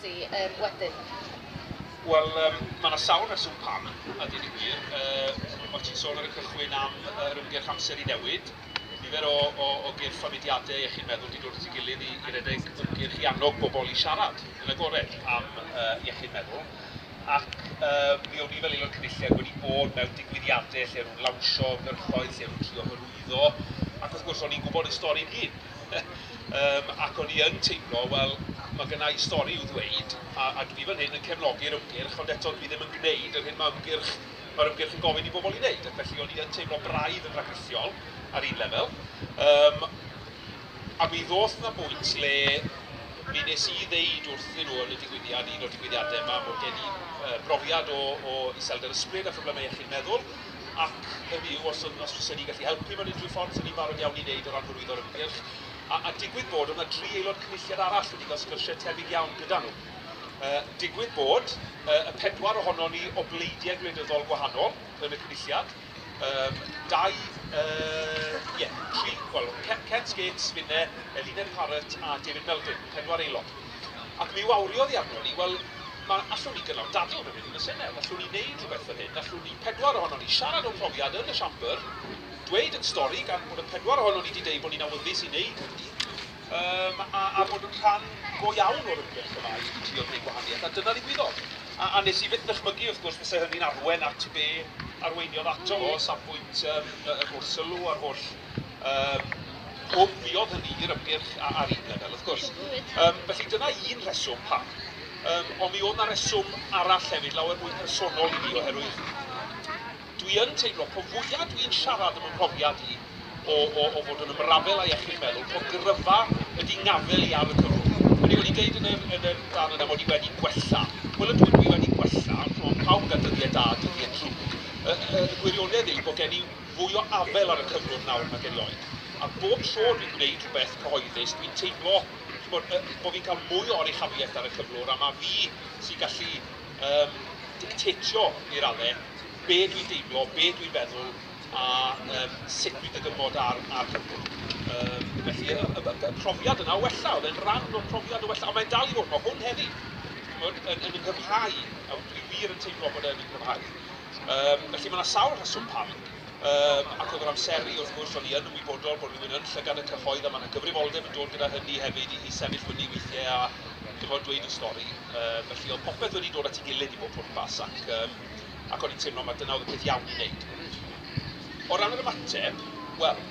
Sti um, wedyn? Wel, um, mae yna sawl reswm pam, a dyn ni wir. Uh, o ti'n sôn ar y cychwyn am yr ymgyrch amser i newid. Nifer o, o, o gyrff a mudiadau eich chi'n meddwl di dod at ei gilydd i, i redeg ymgyrch i annog bobl i siarad yn agored am uh, iechyd meddwl. Ac uh, mi o'n i fel aelod cynulliad wedi bod mewn digwyddiadau lle o'n nhw'n lawnsio ymgyrchoedd, lle o'n nhw'n trio hyrwyddo. Ac wrth gwrs, o'n i'n gwybod y stori yn hyn. Yym ac o'n i yn teimlo, wel, mae gynna i stori i'w ddweud, a a dwi fan hyn yn cefnogi'r ymgyrch, ond eto dwi ddim yn gwneud yr hyn mae ymgyrch... mae'r ymgyrch yn gofyn i bobl ei wneud, ac felly o'n i yn teimlo braidd yn rhagrithiol ar un lefel. Yym a mi ddoth 'na bwynt le mi wnes i ddeud wrthyn nhw yn y digwyddiad, un o'r digwyddiadau 'ma, bod gen i brofiad o o iselder ysbryd a phroblemau iechyd meddwl, Ac hynny yw, os yn, os fysen ni'n gallu helpu mewn unrhyw ffordd, 'sen ni'n barod iawn i wneud o ran hyrwyddo'r ymgyrch. A, a digwydd bod, oedd 'na dri aelod cynulliad arall wedi cael sgyrsiau tebyg iawn gyda nhw. Uh, digwydd bod, uh, y pedwar ohonon ni o bleidiau gwleidyddol gwahanol yn y cynulliad, um, dau, ie, uh, yeah, tri, wel, Kent Gates, finne, Eline Parrott a David Melding, pedwar aelod. Ac mi wawriodd hi arnon ni, wel, ma, allwn ni gynnal dadl fan hyn yn y Senedd, allwn ni wneud rhywbeth fan hyn, allwn ni pedwar ohonon ni siarad o'n mhrofiad yn y Siambr, dweud ein stori, gan bod y pedwar ohonon ni 'di deud bod ni'n awyddus i wneud hynny, yym, a, a bod yn rhan go iawn o'r ymgyrch yma i, i drio gwneud gwahaniaeth, a dyna ddigwyddodd. A, a wnes i fyth ddychmygu, wrth gwrs, fyse hynny'n arwain at be arweiniodd ato fo, o safbwynt yym y gwrs sylw a'r holl Yym, gofiodd hynny i'r ymgyrch a- ar un lefel, wrth gwrs. Yym, felly dyna un rheswm pam. Yym, ond mi oedd 'na reswm arall hefyd, lawer mwy personol i mi, oherwydd dwi yn teimlo, po fwya dwi'n siarad am 'y mhrofiad i o, o, o fod yn ymrafel â iechyd meddwl, po gryfa ydi ngafel i ar y cyfrwng. Hynny yw, o'n i'n deud yn yr, yn yr darn yna mod i wedi gwella. Wel, ydw, dwi wedi gwella, ond pawb yn cael dyddiau da a dyddiau drwg. Y, y, y gwirionedd yw bod gen i fwy o afel ar y cyflwr nawr nag erioed, a bob tro dwi'n gwneud rhywbeth cyhoeddus, dwi'n teimlo ch'mod, yy, bo' fi'n cael mwy o oruchafiaeth ar y cyflwr, a ma' fi sy'n gallu um, dictatio i radde be dwi'n deimlo, be dwi'n feddwl, a um, sut dwi'n dygymod ar, ar cyflwr. Um, felly, y, y, y, profiad yna o wella, oedd e'n rhan o'r profiad o wella, a mae'n dal i fod, mae hwn heddi, yn, yn, yn ynghyfhau, a dwi wir yn teimlo bod e'n ynghyfhau. Yym, felly mae 'na sawl rheswm pam. Yym, ac oedd yr amseru, wrth gwrs, o'n i yn ymwybodol bod rhywun yn llygad y cyhoedd a mae 'na gyfrifoldeb yn dod gyda hynny hefyd i i sefyll fyny weithiau a, chimod, dweud y stori. Yym, felly oedd popeth wedi dod at ei gilydd i bob pwrpas ac yym, ac o'n i'n teimlo mai dyna oedd y peth iawn i wneud. O ran yr ymateb, wel,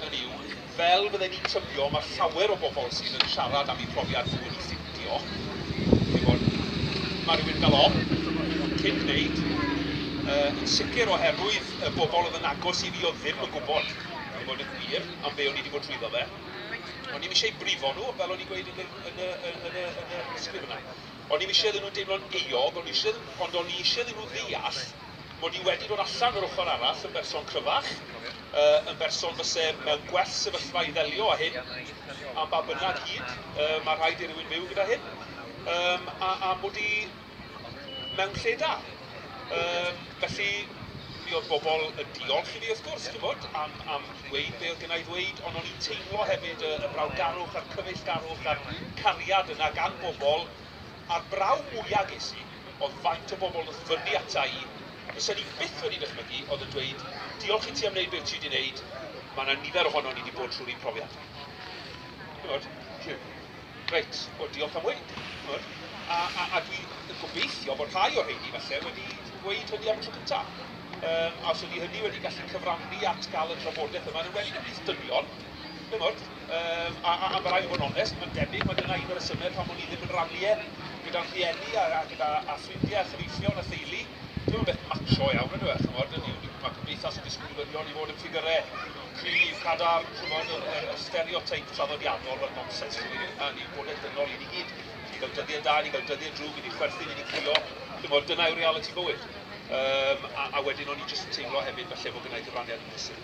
hynny yw, Fel fydden ni'n tybio, mae llawer o bobl sydd yn siarad am eu profiad nhw wedi ffeindio, chi'n gwybod, mae rhywun yn cael ofn cyn gwneud, yn sicr oherwydd y bobl oedd yn agos i fi oedd ddim yn gwybod, i fod yn wir, am be o'n i wedi bod trwyddo fe. O'n i'm eisiau brifo nhw, fel o'n i'n gweud yn y, yn y, yn y, yn y sgrifenau. O'n i'm eisiau iddyn nhw deimlo'n euog, o'n i eisiau iddyn nhw, ond o'n i eisiau iddyn nhw ddeall, mod i wedi dod allan yr ochr arall yn berson cryfach, yn berson fyse mewn gwell sefyllfa i ddelio â hyn, am ba bynnag hyd mae rhaid i rywun fyw gyda hyn, a mod i mewn lle da. Felly, mi oedd bobl yn diolch i fi wrth gwrs, ch'mod, am am ddweud be oedd gynna' i ddweud, ond o'n i'n teimlo hefyd y y brawdgarwch a'r cyfeillgarwch a'r cariad yna gan bobl A'r braw mwya ges i oedd faint o bobl wnaeth fynnu ata i, fysen i byth wedi dychmygu, oedd yn dweud, diolch i ti am wneud be wyt ti wedi wneud, mae yna nifer ohonon ni wedi bod trwy'r un profiad. Chimod, rhyw, reit, o diolch am weud. Chimod, a, a, a dwi yn gobeithio bod rhai o'r rheini falle wedi gweud hynny am y tro cyntaf. Yym, a os ydy hynny wedi gallu cyfrannu at gael y drafodaeth yma, yn enwedig ymhlith dynion, chimod, A, a, a ma' raid bod yn onest, mae'n debyg mai dyna un o resyme pam o'n i ddim yn rannu e gyda'n rhieni a, a gyda a ffrindie a chyfeillion a theulu. Dim yn beth macho iawn on'd yw e, ch'mod, hynny yw, ma' cymdeithas yn disgwyl i ddynion i fod yn ffigyre cryf, cadarn, ch'mod, yr, yr, yr stereoteip traddodiadol, ma'n nonsens dyw 'i ddim, na, ni'n bodled dynol i ni gyd. I ni gael dyddie da, i ni gael dyddie drwg, i ni chwerthin, i ni crio, ch'mod, dyna yw realiti bywyd. Yym, a, a wedyn o'n i jyst yn teimlo hefyd falle fod gynna' i gyfraniad yn brysur.